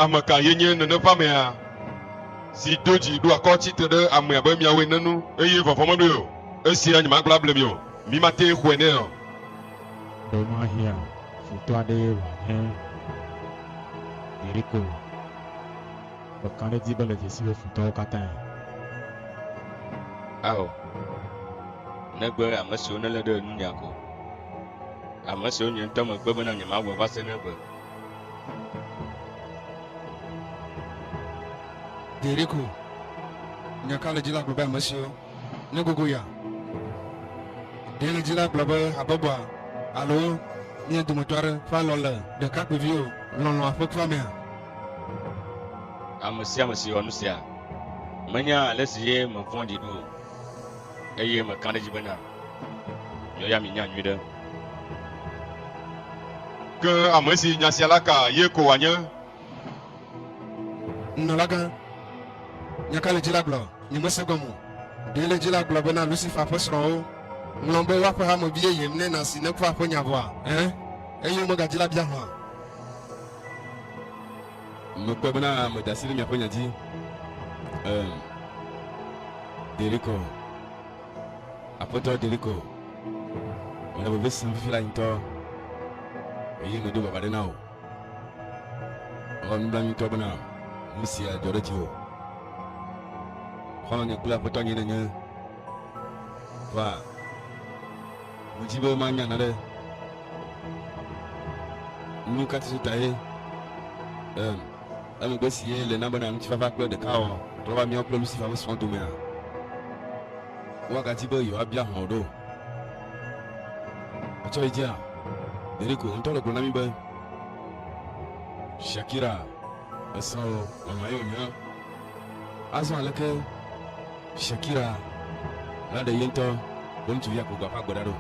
Ame ka ye nye nene ƒe amea, si do dzi ɖo akɔ tsi te ɖe ame abe miawo ene nu, eye vɔvɔ̃ meɖoe o? Esia nyemagblɔ able mi o. Mimate xɔe nɛ o. Ɖe mahiã futɔ aɖee wòanye Yeriko? Le kaɖedzi be le dzesi be futɔwo katãe. Ao, negbe ame siwo nelé ɖe nunya ko, ame siwo nye ŋutɔ megbe bena nyemawɔe va se ɖe egbe. Ɖeɖeko, nya ka le edzi la gblɔ be ame siwo. Míegogo ya. Ɖɛledzila gblɔ be habɔbɔa alo mía dometɔ aɖe ƒe alɔ̃ le ɖekakpuiviwo lɔlɔ̃a ƒe klɔmea? Ame sia ame si wɔ nu sia menya ale si ye mevɔ̃ɖi ɖo o, eye meka ɖe edzi bena miawo ya mienyae nyuiɖe. Ke ame si nya sia la ka ye ko wòanye. Nunɔlagã, nya ka le dzi la gblɔ? Nyemese egɔme o. Ɖe le dzi la gblɔ bena Lucifer ƒe srɔ̃wo ŋlɔm be woaƒe hame vi yeye mlɔe na si neku aƒe nya vɔa? Ẽ, eye womegadi la bia hã. Mekpɔe bena meda asi ɖe miaƒe nya dzi. Ẽ, ɖelikɔ, Aƒetɔ, ɖelikɔ mele veve sem fifi la ŋutɔ, eye medo vava ɖe na wò. Xɔ nublanuitɔ bena nu sia dzɔ ɖe dziwò. Xɔlɔ̃nye kple aƒetɔ nye nenye. Va, medi be manya naɖe. Nu ka titu tae em, emegbe si ye le na bena ŋutifafa kple ɖekawɔwɔ trɔ va míawo kple Lucifer ƒe srɔ̃ domea? Woagadi be yewoabia hlɔ̃ ɖo. Etsɔ yi dzia. Ɖeɖeko ŋutɔ le gblɔ na mi be Shakira esrɔ̃ nɔnɔ ye wònye. Azɔ aleke Shakira naɖe ye ŋutɔ be ŋutsuvia ku gbɔ ƒe agbe ɖa ɖo?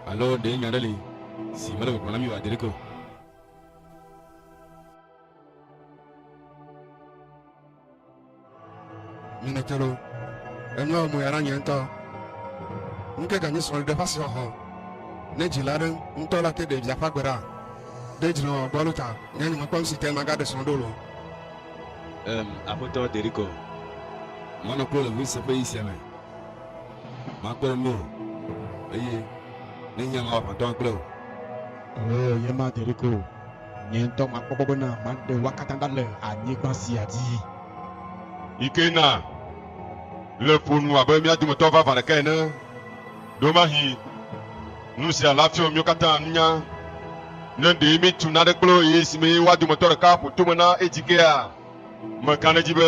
Alo ɖe nya aɖe li si mele gbɔgblɔm na mi oa? Ɖeɖeko. Mimetelo, enyɔ moya na nye ŋutɔ. Ŋke ganyi srɔ̃li ɖe ƒasi xɔxɔ. Ne dzi la ɖe ŋutɔ la te ɖe via ƒe agbe ɖa. Ɖe dzi le wɔwɔ gbɔlo ta nye nye mekpɔ nusi te maga ɖe srɔ̃ ɖo lo. Em, Aƒetɔ Derikɔ. Manɔ kplo le ŋusẽ ƒe ɣi sia me. Makpɔe mí o, eye ne nye la, Aƒetɔ agblẽ o. Oo, nye ma Derikɔ o. Nye ŋutɔ makpɔ gbɔ bena maɖe woa katã ɖa le anyigba sia dzi. Yi ke na le ƒo nu abe mía dometɔ vavã ɖeka ene. Ɖewemahi nu sia la fiɔ míwo katã nunya. Ne ɖee míetu nane kple wo eye esimee woa dometɔ ɖeka ƒo tome na edzi kea, meka ɖe edzi be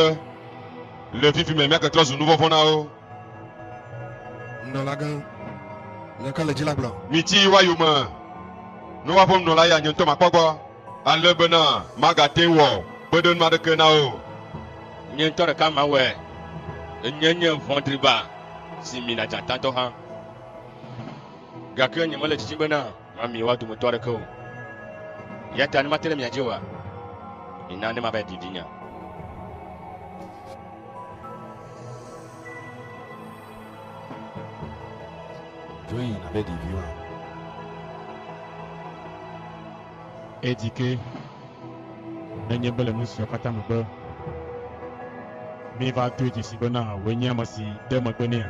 le fifi me míake trɔ zu nuvɔ̃vɔ̃ na wo. Nunɔlagã, nya ka le dzi la gblɔ? Miti wa yome, ne woaƒe nunɔla ya nye ŋutɔ makpɔ gbɔ, ale bena magate ŋu wɔ kpeɖenu aɖeke na wo. Nye ŋutɔ ɖeka mawɔe, enye nye vɔ̃ɖi ba si mina dzatatɔ hã, gake nyemele didim bena. Na miewɔa dometɔ aɖeke o. Eya ta ne mate ɖe mia dzi oa, mina ne mava ɖi vinye. Dzo yi nàve ɖi vi wa. Edi ke nenye be le nu sia katã megbe míeva doe dzesii bena wòe nye ame si de megbe nɛa?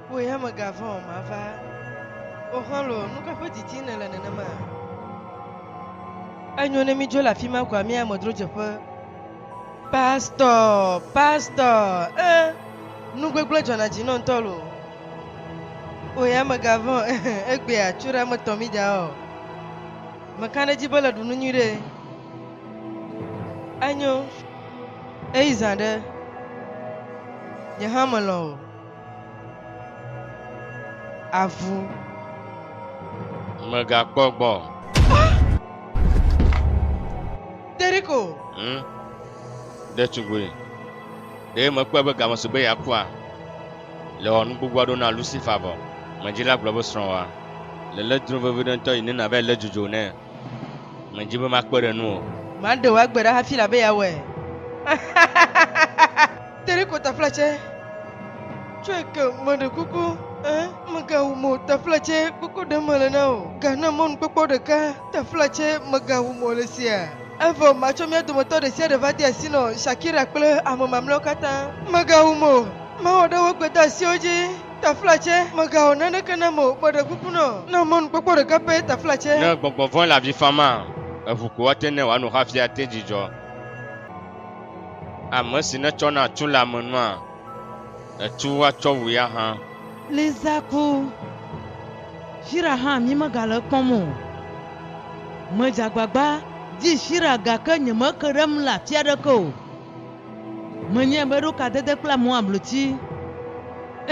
Wò ya mègavɔ̃ o, mava. O xɔlɔ̃, nu ka ƒe didim nèle nenema? Enyo ne mídzo le afi ma koa míayi amedzrodzeƒe. Pastɔ, pastɔ, ẽ, nu gbegblẽ dzɔna dzi nɔm ŋutɔ loo. O ya mègavɔ̃ o, ẽ, egbea, tso ɖa metɔ mí ɖa o. Meka ɖe edzi be le ɖu nu nyuiɖe. Enyo, eyi zã ɖe. Nye hã melɔ̃ o. avu. Mègakpɔ gbɔ o. Derrick o. Hmm? Ɖetugbui, ɖe mèkpɔe be game si be yeakua le wɔ nu gbogbo aɖewo na Lucifer vɔ? Medi la gblɔ be srɔ̃wòa le lé dro vevi ɖe ŋutɔ yi ne nàvae lé dzodzo nɛ. Medi be makpe ɖe nu o. Maɖe wò agbe ɖa hafi labe yeawɔe. Teriko tefle tsɛ tsɔe ke meɖe kuku ɛ megawu mo tefle tsɛ kuku ɖe mele na o gana mɔnukpɔkpɔ ɖeka tefle tsɛ megawu mo le sia evɔ matsɔ mía dometɔ ɖe sia ɖe va de asi nɔ shakira kple ame mamleawo katã megawu mo mawɔ ɖe wo gbedeasiwo dzi tefle tsɛ megawɔ naneke nam o meɖe kuku nɔ na mɔnukpɔkpɔ ɖeka pɛ tefle tsɛ. Ne gbɔgbɔ vɔ̃e le avi fam maa, eŋu ko woate ne wòano hafi ate dzidzɔ. Ame si netsɔna tu le ame nua etu woatsɔ wui ahã. Lisa ku. Shira hã mi megale ekpɔm o. Medze agbagba di Shira gake nyemeke ɖe eŋu le afi aɖeke o. Menyae be eɖo kadede kple amewo abloti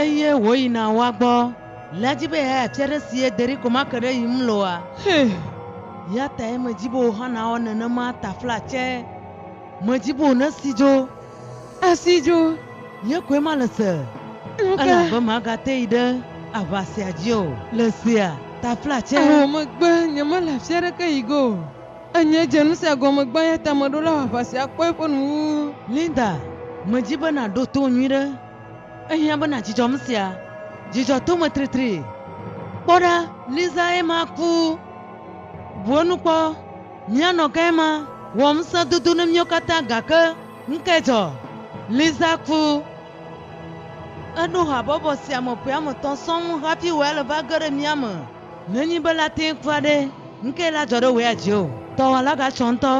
eye wòyina woa gbɔ le edzi be yeayi afi aɖe si ye Derrick ko make ɖe yim loa? Hɛ! Eya tae medi be wò hã nàwɔ nenema taflatse. Medi be wònesi dzo. Esi dzo, nye koe male se. Elabe magate yi ɖe aʋa sia dzi o. Le sia ta fla tsɛ. Evɔ megbe nyemele afi aɖeke yi ge o. Enye dze nu sia gɔme gbã eya ta meɖo la wɔ aʋa sia kpɔ eƒe nu wu. Linda, medi be nàɖo to nyuiɖe. Ehiã be nàdzudzɔ nu sia. Dzidzɔ to me tritri. Kpɔ ɖa! Lisa ye ma ku. Bu enu kpɔ. Míanɔ ke ma wɔ ŋusẽ dodo ne míawo katã gake nukae dzɔ? Lisa ku. Eɖo habɔbɔ sia me ƒe ame etɔ̃ sɔŋ hafi wɔea le va ge ɖe mía me. Nenye be la tee kura ɖe, nukae la dzɔ ɖe wɔea dzi o? Dɔwɔla gatsɔ ŋutɔ.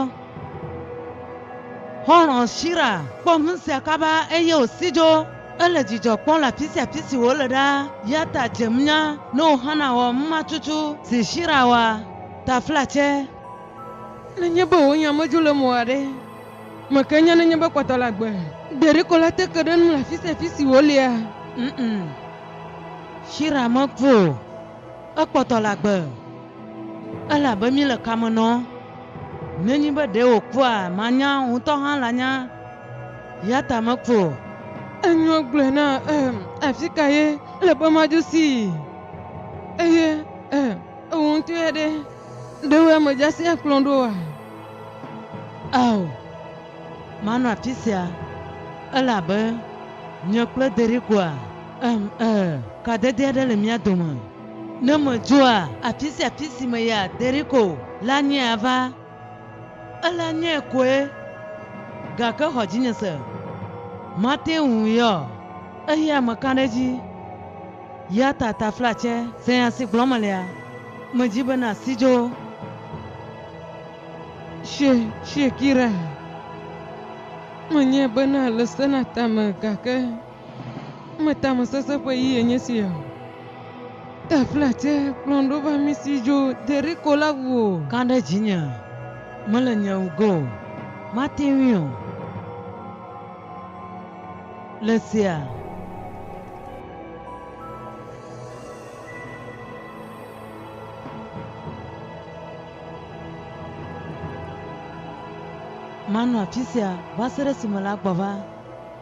Xɔlɔ̃ Shira kpɔ nusia kaba eye wòsi dzo. Ele dzidzɔ kpɔm le afi sia afi si wòle ɖaa, eya ta dzem nya ne wò hã nàwɔ numatsutsu si Shira wɔa. Taflatse, Nenye be wò nya medzo le mewò aɖe me ke nya nenye be kpɔtɔ la gbe. Gbeɖeko la te ke ɖe enu le afi sia afi si wòlia? Ŋm. Shira meku o. Ekpɔtɔ la gbe. Elabe mi le kame nɔ. Nenye be ɖe wòkua, manya, ŋutɔ hã lanya. Yata meku o. Enyo gblɔe na em. Afika ye le be madzo sii? Eye em. Ewu ŋutɔ ya ɖe, ɖe wo ame dzasi akplɔ ɖo wa? Ao, manɔ afi sia, elabe nye kple Derigoa, em, e, kadede aɖe le mía dome. Ne medzoa, afi sia afi si meya, Derigo la nyae ava. Ele nye koe, gake xɔ dzinye se. Mate ŋu yɔ eyi ame ka ɖe edzi? Ya ta taflatse se nya si gblɔm melea? Medi be nàsi dzo. She, Shekira, menyae be nàle se na tame, gake. Meta me sese ƒe ɣi enye si ya o. Ta fla tse kplɔm ɖo va mi si dzo Yeriko la ŋu o. Ka ɖe dzinye mele nye ŋgɔ o. Mate ŋui o. Le sia. Manɔ afi sia va se ɖe esime la gbɔ va.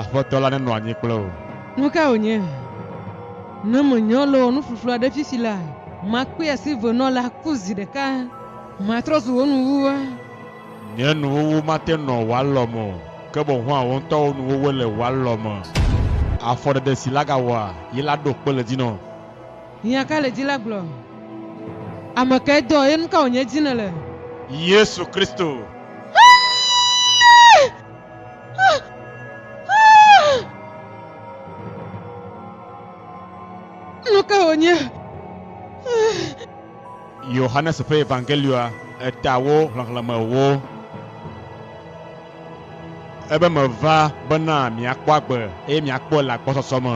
Aƒetɔ la nenɔ anyi kple wò. Nu ka wònye? Ne menyɔ le wò nuƒuƒlu aɖe fifi la, makpɔe asi venɔla ku zi ɖeka. Matrɔ zu wò nuwuwua. Nye nuwuwu mate nɔ wò alɔ me o, ke boŋ hã wò ŋutɔ wò nuwuwue le wò alɔ me. Afɔɖeɖe si laga wɔa, yi la ɖo kpe le dzinɔ. Hiã ka le dzi la gblɔ? Ame kae dɔ, eye nu ka wònye dzi nèle? Yesu Kristo. Nu ka wònye? Yohanes ƒe Evangelioa eta wo xlexlẽme ewo. Ebe meva bena miakpɔ agbe eye miakpɔe le agbɔsɔsɔ me.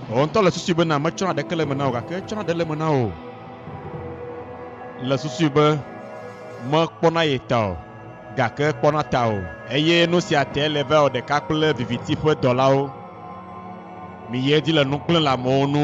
Wò ŋutɔ le susui bena metsɔna ɖeke le eme na wò gake etsɔna ɖe le eme na wò. Le susui be mekpɔna ye ta o gake ekpɔna ta o. Eye nu sia tae le va wɔ ɖeka kple viviti ƒe dɔlawo. Miyi edzi le nu kple le amewo nu.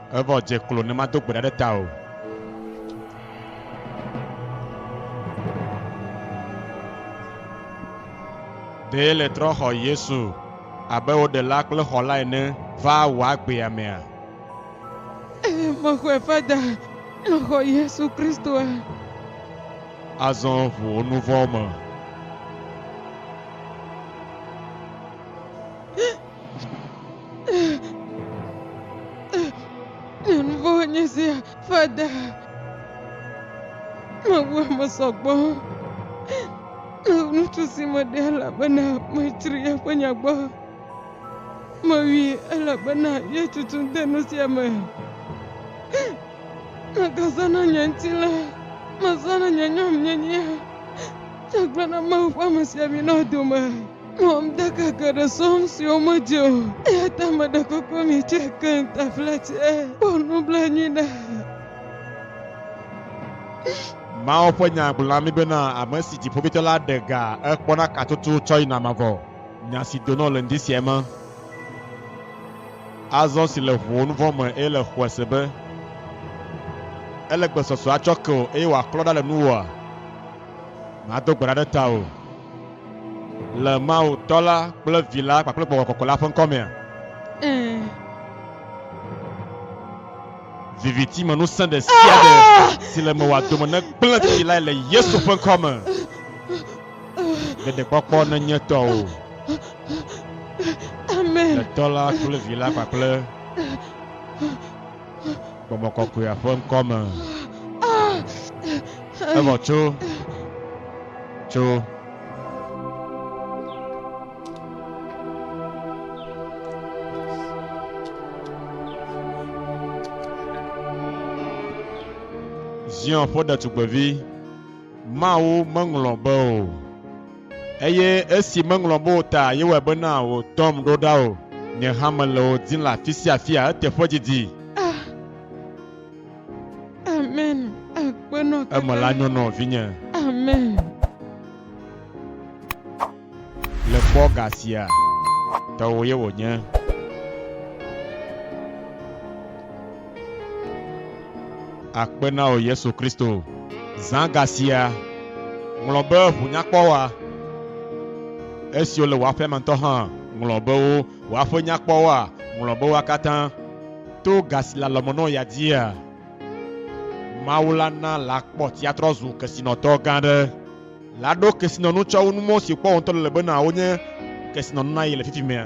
Evɔ dze klo ne mado gbe ɖa ɖe tawò. Ɖee le trɔxɔ Yesu abe wò ɖela kple xɔla ene va wò agbea mea? Eye mexɔe va da le xɔ Yesu Kristoa? Azɔ ʋu wò nuvɔwo me. Nuvovoe nye sia, Fada. Mewu ame sɔgbɔ. Ŋutsu si meɖe elabena metsri eƒe nya gbɔ. Mewui elabena ye tutum de nu sia me. Megazãna nye ŋutilã. Mezãna nye nyɔnyenyea. Egblɔna Mawu ƒe ame sia mi nɔ dome. Mɔm de keke ɖe sɔm siwo medze o. Eya ta meɖe kpekpe mi tse keŋ tafla tse. Kpɔ nublanui na ha. Mawu ƒe Nya gblɔ na mí bena ame si Dziƒoʋĩtɔ la ɖe ga ekpɔna katutu tsɔ yina mavɔ. Nya si donɔ le ŋdi sia eme. Azɔ si le ŋuwò nuvɔ̃ me eye le xɔese be ele gbesɔsɔ atsɔ ke wò eye wòaklɔ ɖa le nuwòa? Mado gbe ɖa ɖe tawò. Le Mawu Tɔ la kple Vi la kpakple Gbɔgbɔ Kɔkɔ la ƒe ŋkɔ mea? Ɛɛ. Viviti me ŋusẽ ɖe sia ɖe si le mewòa dome negblẽ tsi lae le Yesu ƒe ŋkɔ me. Ɖeɖekpɔkpɔ nenye tɔwò. Amen. Le Tɔ la kple Vi la kpakple. Gbɔgbɔ kɔkɔea ƒe ŋkɔ me. Evɔ tso. Tso. Zion ƒe ɖetugbevi, Mawu meŋlɔ be o. Eye esi meŋlɔ be wò ta yewɔe bena wò tɔm ɖo ɖa o, nye hã mele wò dim le afisiafia eteƒe didi. Ah, amen, akpenɔ kaka. Eme la nyo nɔ vinye. Amen. Le kpɔ ga sia, tɔwò ye wònye. Akpe na wò Yesu Kristo. Zã ga sia ŋlɔ be ʋu nyakpɔwoa. Esiwo le wò aƒea me ŋutɔ hã ŋlɔ be wo. Wò aƒe nyakpɔwoa ŋlɔ be woa katã. To ga si le alɔmenɔwò ya dzia, Mawu la na lakpɔtia trɔ zu kesinɔtɔ gã aɖe. Laɖo kesinɔnu tsɔ wu nu mɔ si wòkpɔ wò ŋutɔ le le bena wonye kesinɔnu na ye le fifimea.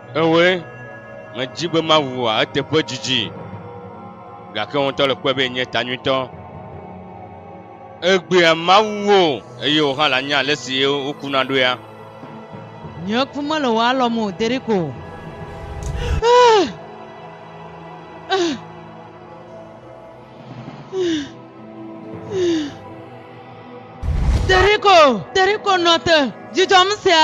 Eɔe, medi be mawua eteƒe didi, gake wò ŋutɔ le kpɔe be yenye ta nyuitɔ. Egbea mawu wo o, eye wò hã lanya ale si wokuna ɖo ya. Nye ku mele wò alɔme o, Derrick o. Derrick o, Derrick o, nɔ te, dzudzɔm sia.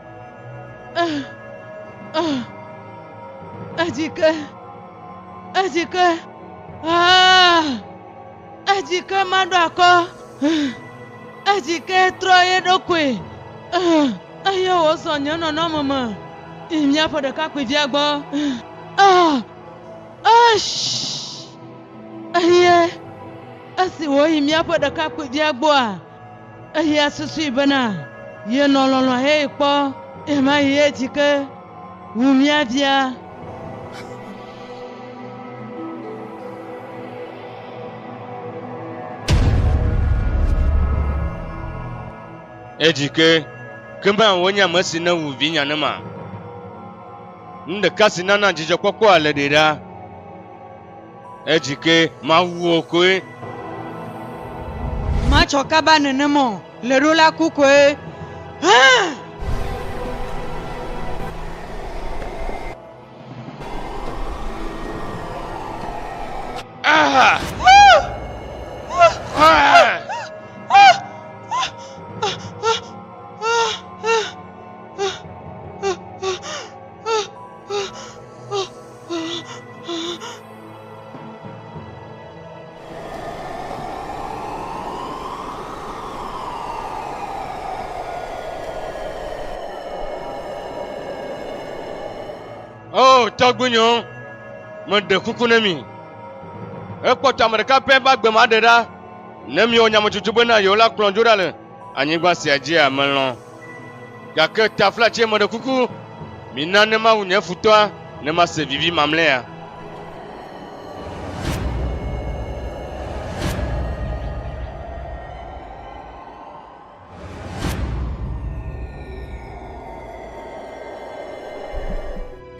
Ah, ah, edzike, edzike, ah, edzike maɖo akɔ, ah, edzike trɔ ye ɖokui, ah, eye wòzɔ nye nɔnɔme me yi míaƒe ɖekakpuivia gbɔ. Ah, ah, eye esi wòyi míaƒe ɖekakpuivia gbɔa, Eya susui bena yenɔ lɔlɔ̃ heyi kpɔ ɣemaɣi ɣie dzi ke wu mía via. Edzi ke, ke be wònye ame si newu vinya nema. Nu ɖeka si nana dzidzɔkpɔkpɔa le ɖe ɖa. Edzi ke Mawu wò koe. Matsɔ kaba nenem ɔ le ɖo la ku koe hã. o tɔgbuinyewo meɖe kuku ne mi ekpɔtɔ ame ɖeka pɛ va gbema ɖe ɖa ne miwɔ nyametsotso be na yewo la kplɔ dzo ɖa le Anyigba sia dzia melɔ̃, gake taflatse meɖe kuku, mina ne mawu nye futɔa, ne mase vivi mamlɛa.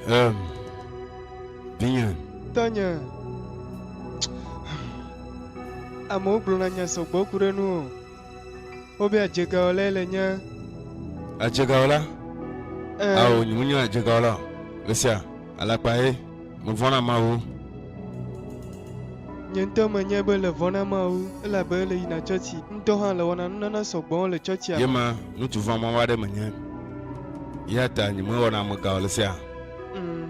Em. Vinye. Tɔnye. Amewo gblɔna nya sɔgbɔ ku ɖe nu o. Wobia adzegawɔlae le nye. Adzegawɔla? Ɛɛ. Ao, nyemenye adzegawɔla o. Mesia, alakpae, mevɔ̃ na Mawu. Nye ŋutɔ menyae be le vɔ̃ na Mawu, elabe ele yina tsɔtsi. Ŋutɔ hã le wɔna nunana sɔ gbɔwo le tsɔtsia me. Yema, ŋutsu vɔ̃ mawo aɖe menye, eyata nyemewɔna amega o le sea. Mm.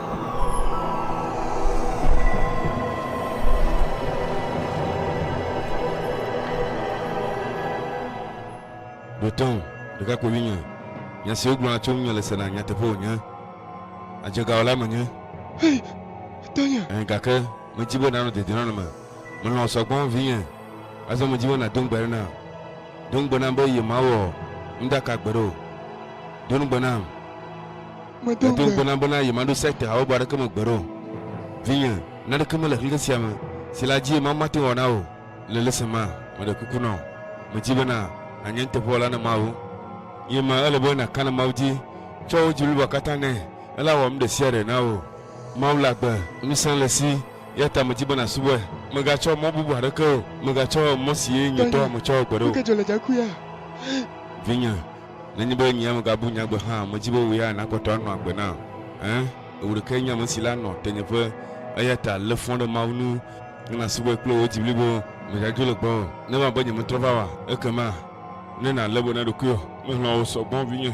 Ɖotɔn, ɖekakpui vinye, nya siwo gblɔna tso ŋunye le sena nyateƒe wònye. Adzegawɔlae menye. Hei, Tanya! Ɛ̃, gake medi be nànɔ dedinɔnɔ me. Melɔ̃ wò sɔ gbɔ, vinye. Azɔ medi be nàdo ŋugbe ɖe nam. Do ŋugbe nam be yemawɔ nu ɖeka gbeɖe o. Do ŋugbe nam. Medo ŋugbe na bena yemaɖo sekte habubu aɖeke me gbeɖe o. Vinye, naneke mele xexe sia me si le adzie Mawu mate ŋu awɔ na wò le lesi ma. Meɖe kuku na wò, medi bena nànye nuteƒewɔla na Mawu. Ye ma ele be nàka na Mawu dzi, tsɔ wò dzi blibo katã nɛ, ele awɔ nu ɖe sia ɖe na wò. Mawu le agbe, ŋusẽ le esi, eya ta medi be nàsubɔe. Mègatsɔ mɔ bubu aɖeke o, mègatsɔ mɔ si ye nyitɔ metsɔ gbeɖe o. Vinye, Nenye be nyea megabu nyagbe hã, medi be wò ya nàkpɔtɔ anɔ agbe nam. Ẽ, wò ɖekae nye ame si le anɔ tenyeƒe, eya ta lé fɔ ɖe Mawu ŋu ne nàsubɔe kple wò dzi blibo. Mègadzro le gbɔwò ne eva be nyemetrɔ va oa? Ekema ne nàlé be na ɖokuiwò. Melɔ̃ wò sɔ gbɔ, vinye.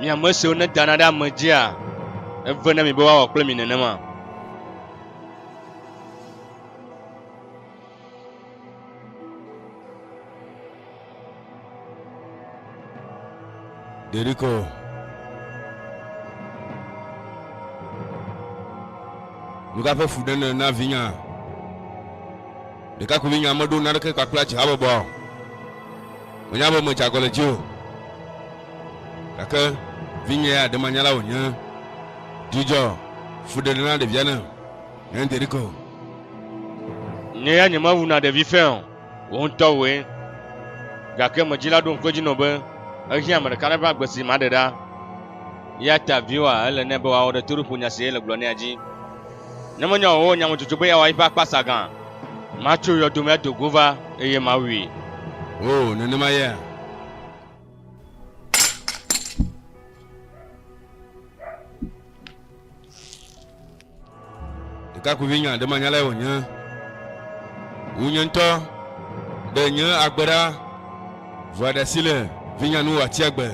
Mi ame siwo nedana ɖe ame dzia, eve na mi be woawɔ kple mi nenema. Ɖeɖikɔ. Nuka ƒe fu ɖe ne na vinya? Ɖekakpuivinya meɖo naneke kpakple atsihabɔbɔa o. Menya be medze agɔ le dzi o, gake vinye ya ɖe manyala wònye. Dzudzɔ fuɖeɖe na ɖevia ne nye ŋdi ɖeke o. Nye ya nyemewuna ɖevi fɛ̃ o, wò ŋutɔ wòe. Gake me dzila ɖo ŋku edzi nɔ be ehiã ame ɖeka aɖe ƒe agbe si maɖe ɖa. Eyata viwòa ele nɛ be wòawɔ ɖe toɖoƒo nya si yele gblɔ nɛa dzi. Ne menya o, nya medzodzoe be yeawɔ eƒe akpasa gã. Matso yɔdo me ado go va, eye mawui. Oo, nenema ye. Ɖekakpuivi nya ɖe manyalae wònye. Wu nye ŋutɔ ɖe nye agbe ɖa, vɔa ɖe asi le vinyanu wòatsi agbe.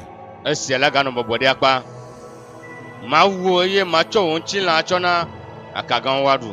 Esia la ganɔ bɔbɔ ɖe akpa. Mawu wò eye matsɔ wò ŋutilã atsɔ na akagãwo woaɖu.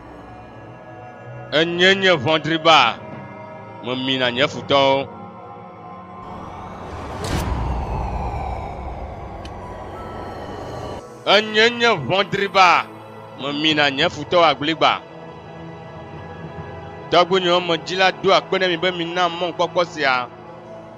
Enye nye ʋɔdri ba, memi na nye futɔwo. Enye nye ʋɔdri ba, memi na nye futɔwo agbligba. Tɔgbuinyewo me dzila do akpe ɖe mi be mina mɔkpɔkpɔ sia.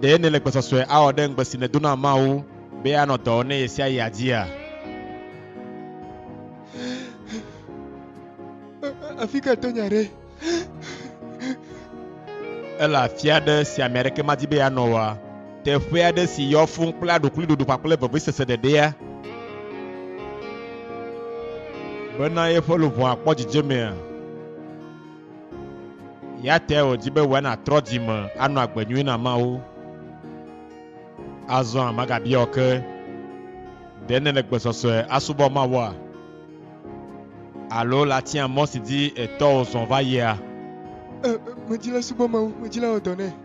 Ɖe nèle gbɔsɔsɔe awɔ ɖe ŋugbe si nèdo na Mawu be anɔ dɔ wɔm ne ɣesiaɣia dzia? Afi ka to nya ɖe? Ele afi aɖe si ame aɖeke madi be yeanɔ oa? Teƒe aɖe si yɔ fũu kple aɖukliɖoɖo kpakple veviesese ɖeɖea? Bena yeƒe luʋɔa kpɔ dzidzemea? Eya tae wòdi be wòe nàtrɔ dzi me anɔ agbe nyui na Mawu. Azɔa magabia wò ke, Ɖe nèle gbe sɔsɔe asubɔ Mawua? Alo le atia mɔ si dzi etɔwo zɔ va yia? Ẽ, medi la subɔ Mawu, medi la wɔ dɔ nɛ.